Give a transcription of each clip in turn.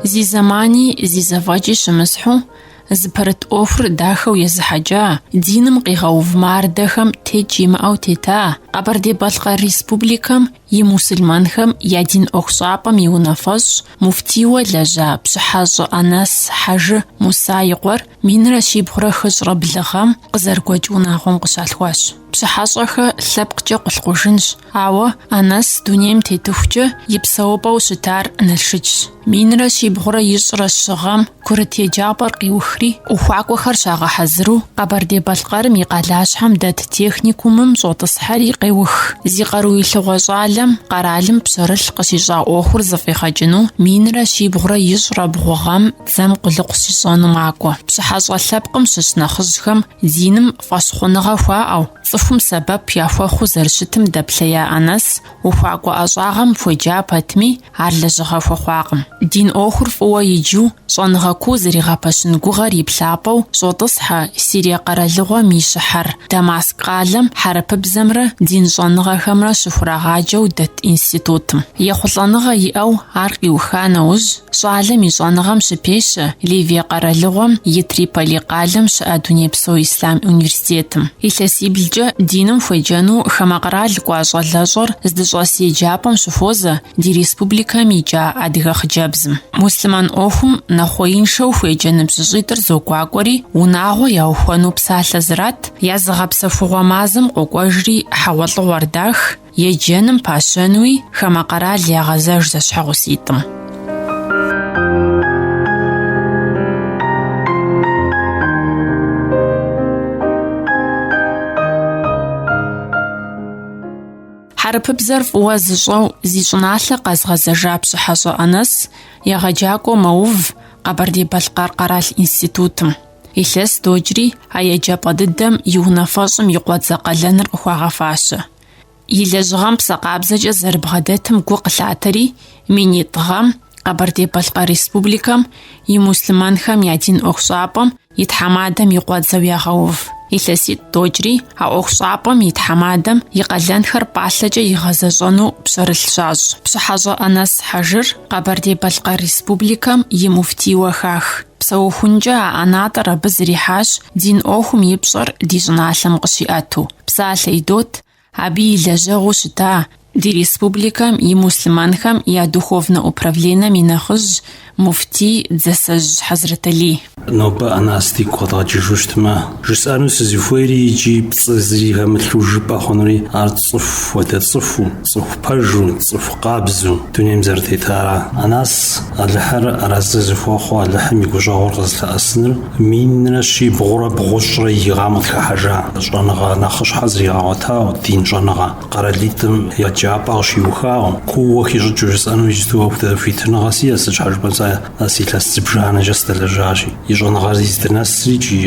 Зи зэмани зи зэфӏэкӏи щымысхьу, зыпэрыт ӏуэхур дахэу езыхьэкӏа, диным къигъэув мардэхэм текӏ имыӏэу тета Къэбэрдей-Балъкъэр Республикэм и мусульманхэм я дин ӏуэхущӏапӏэм и унафэщӏ, муфтийуэ лэжьа Пщыхьэщӏэ Анэс Хьэжы Муса и къуэр минрэ щибгъурэ хыщӏрэ блы гъэм къызэрыгуэкӏ унагъуэм къыщалъхуащ. Пщыхьэщӏэхэ лъэпкъкӏэ къулъкъужынщ, Ауэ Анэс дунейм тетыхукӏэ и псэупӏэу щытар Налшычщ. Минрэ щибгъурэ ищӏрэ щы гъэм курыт еджапӏэр къиухри, ухуакӏуэхэр щагъэхьэзыру Къэбэрдей-Балъкъэрым и къалащхьэм дэт техникумым щӏотӏысхьэри къеух. Зи къаруилъыгъуэ щӏалэм къэралым пщэрылъ къыщищӏа ӏуэхур зэфӏигъэкӏыну минрэ щибгъурэ ищӏрэ бгъу гъэм дзэм къулыкъу щищӏэну макӏуэ. Пщыхьэщӏэ лъэпкъым щыщ нэхъыжьхэм диным фӏэщхъуныгъэ хуаӏэу, Цӏыхум сэбэп яхуэхъуу зэрыщытым дэплъея Анэс ухуакӏуэ ӏэщӏагъэм хуеджа пэтми, ар лэжьыгъэ хуэхъуакъым. Дин ӏуэхур фӏыуэ иджу, щӏэныгъэ куу зэригъэпэщын гугъэр и плъапӏэу щӏотӏысхьэ Сирие къэралыгъуэм и щыхьэр, Дамаск къалэм хьэрыпыбзэмрэ дин щӏэныгъэхэмрэ щыхурагъаджэу дэт институтым. Ехъулӏэныгъэ иӏэу ар къиуха нэужь, Щӏалэм и щӏэныгъэм щыпещэ Ливие къэралыгъуэм и Триполи къалэм щыӏэ Дунейпсо Ислъам университетым. Илъэсиблкӏэ диным хуеджэну хамэ къэрал кӏуа щӏалэщӏэр здыщӏэс еджапӏэм щыхуозэ ди республикэм икӏа адыгэ хъыджэбзым. Муслъымэн ӏуэхум нэхъуеиншэу хуеджэ ныбжьыщӏитӏыр зогуакӏуэри, унагъуэ яухуэну псалъэ зрат, я зыгъэпсэхугъуэ мазэм къокӏуэжри хьэгъуэлӏыгъуэр дах, Еджэным пащэнуи хамэ къэрал ягъэзэж зэщхьэгъуситӏым. Хьэрыпыбзэр фӏыуэ зыщӏэу зи щӏыналъэ къэзгъэзэжа Пщыхьэщӏэ Анэс егъэджакӏуэу мэув Къэбэрдей-Балъкъэр къэрал институтым. Илъэс докӏри а еджапӏэ дыдэм и унафэщӏым и къуэдзэ къалэныр къыхуагъэфащэ. И лэжьыгъэм псэ къабзэкӏэ зэрыбгъэдэтым гу къылъатэри, минитӏ гъэм Къэбэрдей-Балъкъэр Республикэм и муслъымэнхэм я дин ӏуэхущӏапӏэм и тхьэмадэм и къуэдзэу ягъэув. Илъэситӏ докӏри а ӏуэхущӏапӏэм и тхьэмадэм и къалэнхэр пӏалъэкӏэ игъэзэщӏэну пщэрылъ щащӏ. Пщыхьэщӏэ Анэс Хьэжыр Къэбэрдей-Балъкъэр Республикэм и муфтийуэ хах. Псэухункӏэ а ӏэнатӏэр абы зэрихьащ дин ӏуэхум и пщӏэр ди щӏыналъэм къыщиӏэту. Псалъэ идот абы и лэжьэгъуу щыта ди республикэм и муслъымэнхэм я духовнэ управленэм и нэхъыжь муфтий Дзэсэжь Хьэзрэталий. Нобэ Анэс дигу къэдгъэкӏыжу щытмэ, жысӏэну сызыхуейри икӏи пцӏы зыри хэмылъу жыпӏэ хъунури ар цӏыху хуэдэ цӏыхуу, Цӏыху пэжу, цӏыху къабзэу дунейм зэрытетара. Анас Алыхьыр арэзы зыхуэхъу Алыхьым и гущӏэгъур къызылъэӏэсыныр минрэ щибгъурэ бгъущӏрэ и гъэм къытхыхьэжа щӏэныгъэ нэхъыщхьэ зригъэгъуэтау, дин щӏэныгъэ, къэралитӏым еджапӏэ къыщиухау, кууэ хищӏыкӏыу жысӏэну иджыту апхуэдэ хуитыныгъэ сиӏэ, сыт щхьэ жыпӏэм, сэ Анас илъэс зыбжанэкӏэ сдэлэжьащи, и щӏэныгъэр зиздынэсри икӏи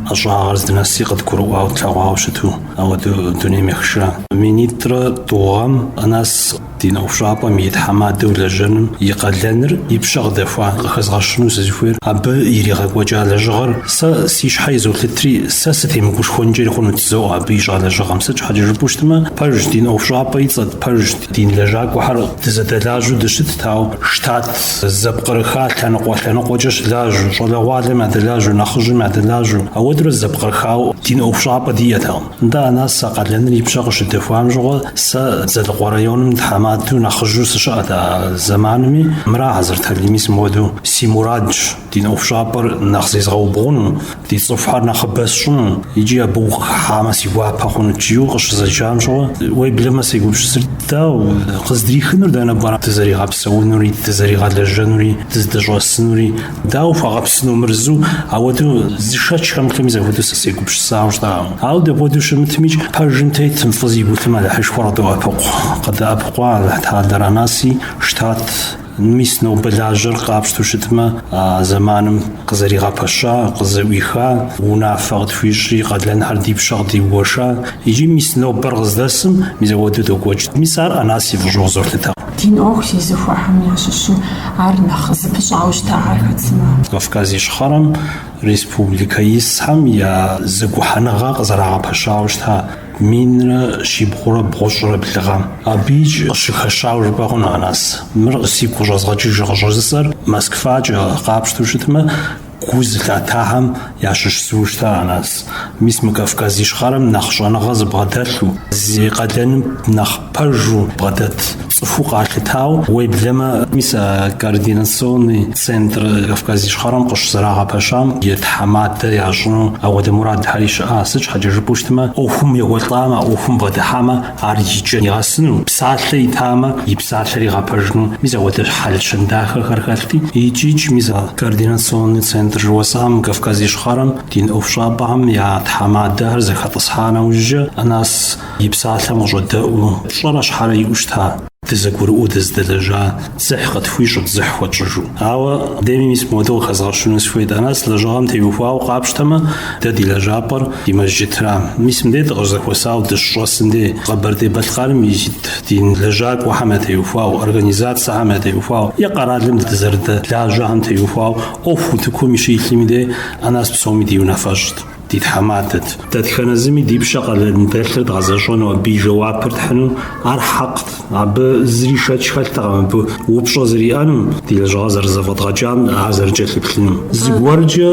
ӏэщӏагъэр здынэсри къыдгурыӏуау тлъэгъуауэ щыту. Ауэдэу дунейм ехыша минитӏрэ тӏу гъэм Анас дин ӏуэхущӏапӏэм и тхьэмадэу лэжьэным и къалэныр и пщэ къыдэхуа къыхэзгъэщыну сызыхуейр, абы иригъэкӏуэкӏа лэжьыгъэр сэ си щхьэ изолъытри, сэ сытемыгушхуэнкӏэри хъунут, жызоӏэ абы и щӏа лэжьыгъэм. Сыт щхьэкӏэ жыпӏэу щытмэ, пэжщ, дин ӏуэхущӏапӏэ и цӏэт пэжщ, дин лэжьакӏуэхэр дызэдэлажьэу дыщытт, ауэ штат. Зэпкърыха лъэныкъуэ-лъэныкъуэкӏэ щылажьэу, щӏалэгъуалэм ядэлажьэу, нэхъыжьым ядэлажьэу, ауэдурэ зэпкърыхау дин ӏуэхущӏапӏэ диӏэтэкъым. Нтӏэ, Анас а къалэныр и пщэ къыщыдэхуам щыгъуэ, сэ Дзэлыкъуэ районым тхьэмадэу нэхъыжьу сыщыӏэт а зэманми, мыра Хьэзрэталий, мис мыуэдэу си мурадщ дин ӏуэхущӏапӏэр нэхъ зезгъэубгъуну, Ди цӏыхухэр нэхъыбэ сщӏыну икӏи абы укъыхыхьамэ си гуапэ хъуну жиӏэу къыщызэджам щыгъуэ уеблэмэ сегупсысыр дауэ къыздрихынур дэнэ пӏэрэ дызэригъэпсэунури дызэригъэлэжьэнури дыздэщӏэсынури дауэ хуэгъэпсыну мыр зу ауэдэу зы шэч хэмылъу мис ахуэдэу сэ сегупсысауэ щыта ауэ дапхуэдэу щымытмикӏ пэжым тетым фӏы зигу илъым Алыхьышхуэр къыдоӏэпыкъу къыдэӏэпыкъуа Алыхь Тэхьэлэр Анаси штат Мис нобэ лажьэр къапщтэу щытмэ, а зэманым къызэригъэпэща, къызэӏуиха, унафэ къытхуищӏри, къалэнхэр ди пщэ къыдигуэша, икӏи мис нобэр къыздэсым мис ауэду докӏуэкӏ. Мис ар Анас и фӏыщӏэу къызолъытэ. Дин ӏуэху зезыхуэхэм ящыщу ар нэхъ зыпыщӏауэ щытар хэт сымэ? Кавказ Ищхъэрэм республикэ исхэм я зэгухьэныгъэ къызэрагъэпэщауэ щыта? Минрэ щибгъурэ бгъущӏрэ блы гъэм. Абы икӏ къыщыхэщауэ жыпӏэ хъуну а нас? Мыр сигу къыщӏэзгъэкӏыжыр къыщӏыжысӏэр Москвакӏэ къапщтэу щытмэ, гу зылъатахэм ящыщ зыу щыта Анас. Мис мы Кавказ Ищхъэрэм нэхъ щӏэныгъэ зыбгъэдэлъу, зи къалэным нэхъ Пэжу бгъэдэт цӏыхуу къалъытау, уеблэмэ, мис а координационный центр Кавказ Ищхъэрэм къыщызэрагъэпэщам и тхьэмадэ ящӏыну апхуэдэ мурадхэри щыӏа. Сыт щхьэкӏэ жыпӏэу щытмэ, ӏуэхум ехуэлӏамэ, а ӏуэхум бгъэдыхьамэ, ар и кӏэм нигъэсыну, псалъэ итамэ, и псалъэр игъэпэжыну, мис апхуэдэ хьэл-щэн дахэхэр хэлъти, икӏ-икӏ, мис а координационный центр жыхуэсӏам Кавказ Ищхъэрэм дин ӏуэхущӏапӏэхэм я тхьэмадэхэр зэхэтӏысхьа нэужькӏэ, Анас и псалъэм къыщӏэдэӏуу, пщӏэрэ щхьэрэ иӏэу щыта, дызэгурыӏуэу дыздэлэжьа дзыхь къытхуищӏырт дзыхь хуэтщӏыжу. Ауэ дэми мис мыуэду къыхэзгъэщыну сыхуейт, Анэс лэжьыгъэм теухуауэ къапщтэмэ, дэ ди лэжьапӏэр ди Мэжджытра. Мис мыдей дыкъыщызэхуэсауэ дыщыщӏэсым дей, Къэбэрдей-Балъкъэрым ит дин лэжьакӏуэхэм ятеухуауэ, организацэхэм ятеухуауэ е къэралым дызэрыдэлажьэхэм теухуауэ ӏуэху утыкум щилъми дей, Анэс псоми ди унафэщӏт. ди тхьэмадэт. Дэтхэнэ зыми ди пщэ къалэн дэлъыр дгъэзэщӏэну абы и жэуапыр тхьыну ар хьэкът, абы зыри шэч хэлътэкъым абы упщӏэ зэриӏэнум, ди лэжьыгъэр зэрызэфӏэдгъэкӏам ар зэрыкӏэлъыплъынум. Зыгуэркӏэ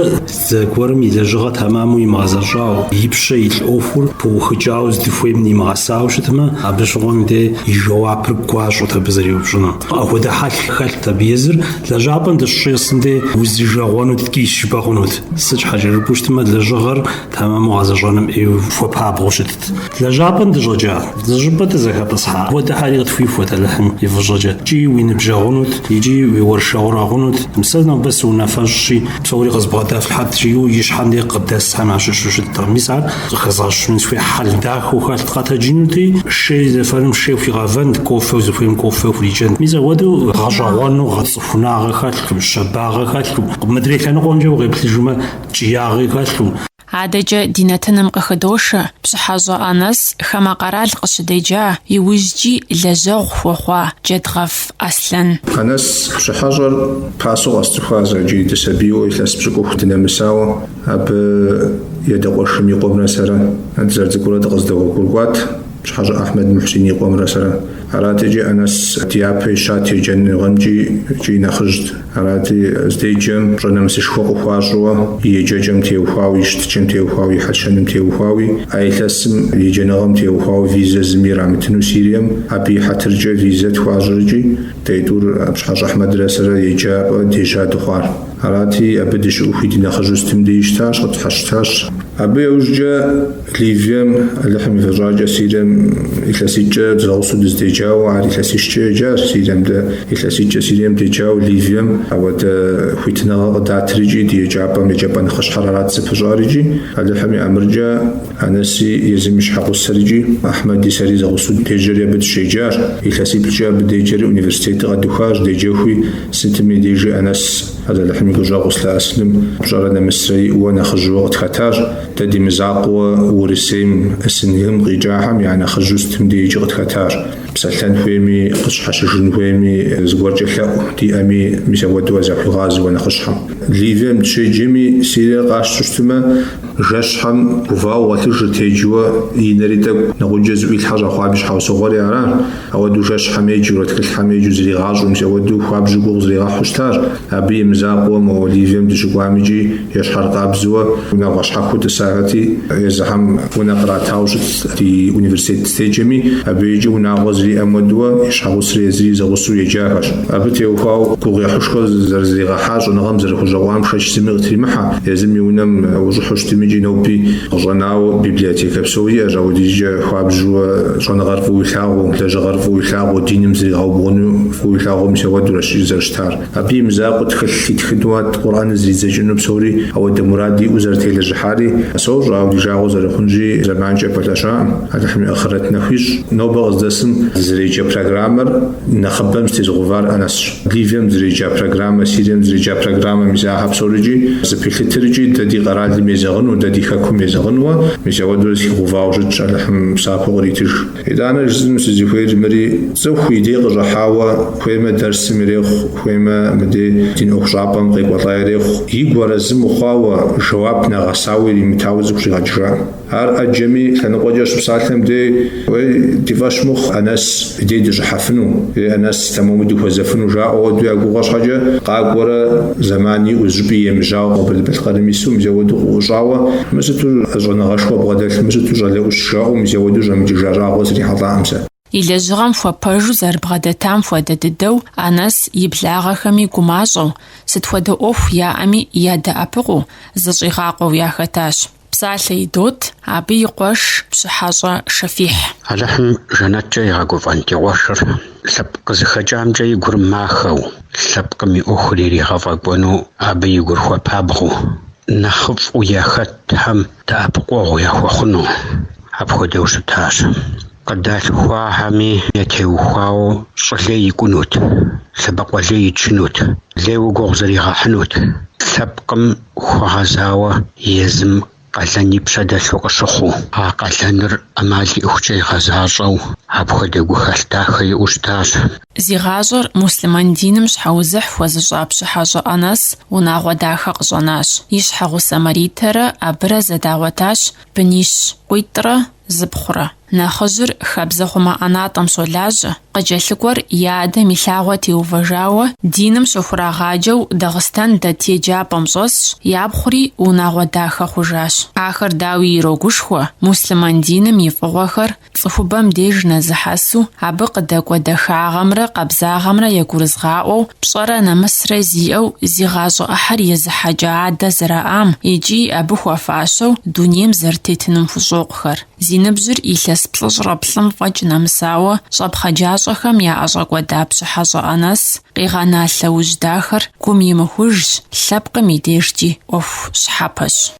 зыгуэрым и лэжьыгъэ тэмэму имыгъэзэщӏауэ, и пщэ илъ ӏуэхур пыухыкӏауэ здыхуейм нимыгъэсауэ щытмэ, абы щыгъуэм де и жэуапыр гуащӏэт абы зэриупщӏыну. Апхуэдэ хьэл хэлът абы езыр, лэжьапӏэм дыщыщӏэсым де узижагъуэну ткӏийщ жыпӏэ хъунут. Сыт щхьэкӏэ жыпӏэу щытмэ, лэжьыгъэр тэмэму гъэзэщӏэным ӏейуэ хуэпабгъэу щытт. Лэжьапӏэм дыщӏэкӏа, зы щӏыпӏэ дызэхэтӏысхьа апхуэдэхэри къытхуихуэт Алыхьым и фӏыщӏэкӏэ. Икӏи уи ныбжьэгъунут, икӏи уи уэршэрэгъунут. Сэ нобэ сыунафэщӏщи, псори къызбгъэдэфлъхьэт, жиӏэу ищхьэм де къыдэсхэм ящыщу щыттэкъым. Мис ар къыхэзгъэщыну сыхуейщ, хьэл дахэу хэлът. Къэтэджынути, шей зэфэным шей хуигъэвэнт, кофэу зыхуейм кофэ хурикӏэнт. Мис апхуэдэу гъэщӏэгъуэну гъэцӏыху. пхунагъэ хэлъу, щабагъэ хэлъу, мыдрей лъэныкъуэмкӏэ укъеплъыжмэ, ткӏиягъи хэлъу. Адэкӏэ ди нэтыным къыхыдошэ Пщыхьэщӏэ Анэс хамэ къэрал къыщыдеджа, иужькӏи лэжьэгъу хуэхъуа Джэдгъэф Аслъэн. Анэс Пщыхьэщӏэр пасэу къэсцӏыхуа зэкӏэ дысабийуэ илъэс пщыкӏутху дынэмысауэ, абы и адэ къуэшым и къуэмрэ сэрэ, дызэрыцӏыкӏурэ дыкъыздэгъуэгурыкӏуат Пщыхьэщӏэ Ахьмэд Мухьсин и къуэмрэ сэрэ. Арати икӏи Анэс дяпэ ищат еджэныгъэмкӏи икӏи нэхъыжьт. Арати, здеджэм пщӏэ-нэмысышхуэ къыхуащӏыуэ и еджэкӏэм теухуауи, и щытыкӏэм теухуауи, и хьэл-щэным теухуауи, а илъэсым еджэныгъэм теухуауэ визэ зыми ирамытыну Сирием, абы и хьэтыркӏэ визэ тхуащӏри икӏи дэ тӏур Пщыхьэщӏэ Ахьмэдрэ сэрэ еджапӏэ дежьа дыхъуар. Арати, абы дыщыӏэхуи ди нэхъыжьу сытым деи щытащ, къытщхьэщытащ. Абы яужкӏэ Ливием, Алыхьым и фӏыщӏэкӏэ, Сирием илъэситӏкӏэ зэгъусэу дыздеджауэ, ар илъэсищкӏэ еджащ Сирием, дэ илъэситӏкӏэ Сирием деджауэ Ливием апхуэдэ хуитыныгъэ къыдатри икӏи ди еджапӏэм еджапӏэ нэхъыщхьэр арат зыпыщӏар икӏи, Алыхьым и ӏэмыркӏэ, Анэси езым и щхьэгъусэри икӏи, Ахьмэди сэри зэгъусэу дежьэри абы дыщеджащ, илъэсиплӏкӏэ абы деджэри университетыр къэдухащ, деджэхуи сытми дежи Анэс, Алыхьым и гущӏэгъу зылъэӏэсыным пщӏэрэ нэмысрэ иӏэу нэхъыжьу къытхэтащ, Дэ ди мызакъуэ Урысейм, СНГ-м къикӏахэм я нэхъыжьу сытым дежкӏи къытхэтащ. Псэлъэн хуейми, къыщхьэщыжын хуейми, зыгуэркӏэ лъэӏу диӏэми, мис ауэдэуэ захуигъазэуэ нэхъыщхьэм. Ливием дыщеджэми, Сириер къащту щытмэ, жэщхьэм гувауэ гъуэлъыжырт, еджэуэ и нэри тӏэкӏу, нэгъуджэ зыӏуилъхьэ щӏэхъуаби щхьэусыгъуэри аращ. Ауэдэу жэщхьэм еджэурэ тхылъхьэм еджэу зригъащӏэу, мис ауэдэу хуабжьу гугъу зригъэхьу щытащ. Абы и мызакъуэуэ мо Ливием дыщыкӏуам икӏи ещхьэркъабзэуэ унагъуэ щхьэхуэу тӏысахэти, езыхэм унэ къратауэ щытт ди университет дыздеджэми. Абы икӏи унагъуэ зэриӏэм хуэдэуэ и щхьэгъусри езыри зэгъусэу еджахэщ. Абы теухуауэ гугъуехьышхуэ зэрызригъэхьа щӏэныгъэм зэрыхущӏэкъуам шэч зыми къытримыхьэ. Езым и унэм ущӏыхьу щытым икӏи ноби къыщӏэнауэ библиотекэ псори иӏэщ, ауэдизкӏэ хуабжьууэ Щӏэныгъэр фӏыуэ илъагъуу, лэжьыгъэр фӏыуэ илъагъуу, диным зригъэубгъуну фӏыуэ илъагъуу мис ауэдуращ зэрыщытар. Абы и мызакъуэу тхылъ итхыну ат Къурӏэныр зридзэкӏыну псори ауэдэ мурад иӏэу зэрытелэжьыхьари сощӏэ, ауэ ди жагъуэ зэрыхъунщи, зэманкӏэ пэлъэщакъым. Алыхьым и ахърэт нэху ищӏ. Нобэ къыздэсым дызэреджэ программэр нэхъыбэм зэтезыгъэувар Анэсщ. Ливием зэреджа программэ, Сирием зэреджа программэ, мис ахэр псорикӏи зэпилъытрикӏи дэ ди къэралым езэгъыну, дэ ди хэкум езэгъынуэ, мис ауэдурэ зыхигъэувауэ щытщ, Алыхьым псапэу къритыж. Итӏанэ жысӏэну сызыхуейр мыри, цӏыху и дей къыщӏыхьауэ, хуеймэ дэрсым ирехъу, хуеймэ мыдей дин ӏуэхущӏапӏэм къекӏуэлӏа ирехъу, игу арэзы мыхъуауэ, жэуап нэгъэсауэ иримытауэ цӏыху щӏигъэкӏыжа. Ар ӏэджэми лъэныкъуэкӏэ щыпсалъэм дей. Уей, ди фӏэщ мыхъу, Анэс и дей дыщӏыхьэфыну, ей, Анэс, тэмэму дыхуэзэфыну, жаӏэу ауэду я гугъэ щхьэкӏэ, къакӏуэрэ, зэман иӏэу, зыщӏыпӏи емыжьауэ Къэбэрдей-Балъкъэрым ису, мис ауэду къыӏущӏауэ, мы сыту щӏэныгъэшхуэ бгъэдэлъ, мы сыту щӏалэ ӏущ жаӏэу, мис ауэду щӏэмыкӏыжа щӏагъуэ срихьэлӏакъым сэ. И лэжьыгъэм хуэпэжу зэрыбгъэдэтам хуэдэ дыдэу Анэс и благъэхэми гумащӏэу, сыт хуэдэ ӏуэху яӏэми ядэӏэпыкъуу, зыщӏигъакъуэу яхэтащ. Псалъэ идот абы и къуэш Пщыхьэщӏэ Шэфихь. Алыхьым жэнэткӏэ игъэгуфӏэн ди къуэшыр лъэпкъ къызыхэкӏамкӏэ и гур махэу, лъэпкъым и ӏуэхур иригъэфӏэкӏуэну абы и гур хуэпабгъэу, нэхъыфӏу яхэтхэм дэӏэпыкъуэгъу яхуэхъуну апхуэдэу щытащ. Къыдалъхуахэми ятеухуауэ щӏы лей икӏунут, лъэбакъуэ лей ичынут, лейуэ гугъу зригъэхьынут, лъэпкъым хуэгъэзауэ езым къалэн и пщэ дэлъу къыщыхъуу. А къалэныр ӏэмал иӏэхукӏэ игъэзащӏэу апхуэдэ гухэлъ дахэ иӏэу щытащ. Зи гъащӏэр муслъымэн диным щхьэузыхь хуэзыщӏа Пщыхьэщӏэ Анэс унагъуэ дахэ къыщӏэнащ. И щхьэгъусэ Маритэрэ абырэ зэдагъуэтащ бынищ къуитӏрэ зыпхъурэ. Нэхъыжьыр хабзэхъумэ ӏэнатӏэм щолажьэ, къыкӏэлъыкӏуэр и адэм и лъагъуэ теувэжауэ, диным щыхурагъаджэу Дагъыстэн дэт еджапӏэм щӏэсщ, япхъури унагъуэ дахэ хъужащ. Ахэр дауи ирогушхуэ муслъымэн диным и фӏыгъуэхэр Цӏыхубэм деж нэзыхьэсу, абы къыдэкӏуэ дахагъэмрэ къабзагъэмрэ ягурызыгъаӏуэу, пщӏэрэ нэмысрэ зиӏэу зи гъащӏэ ӏыхьэр езыхьэкӏа адэ зэраӏам икӏи абы хуэфащэу дунейм зэрытетыным хущӏокъухэр. Зи ныбжьыр илъэс плӏыщӏрэ плӏым фӏэкӏ нэмысауэ, щӏэпхъаджащӏэхэм яӏэщӏэкӏуэда Пщыхьэщӏэ Анэс къигъэна лъэужь дахэр гум имыхужщ, лъэпкъым и дежкӏи ӏуэху щхьэпэщ.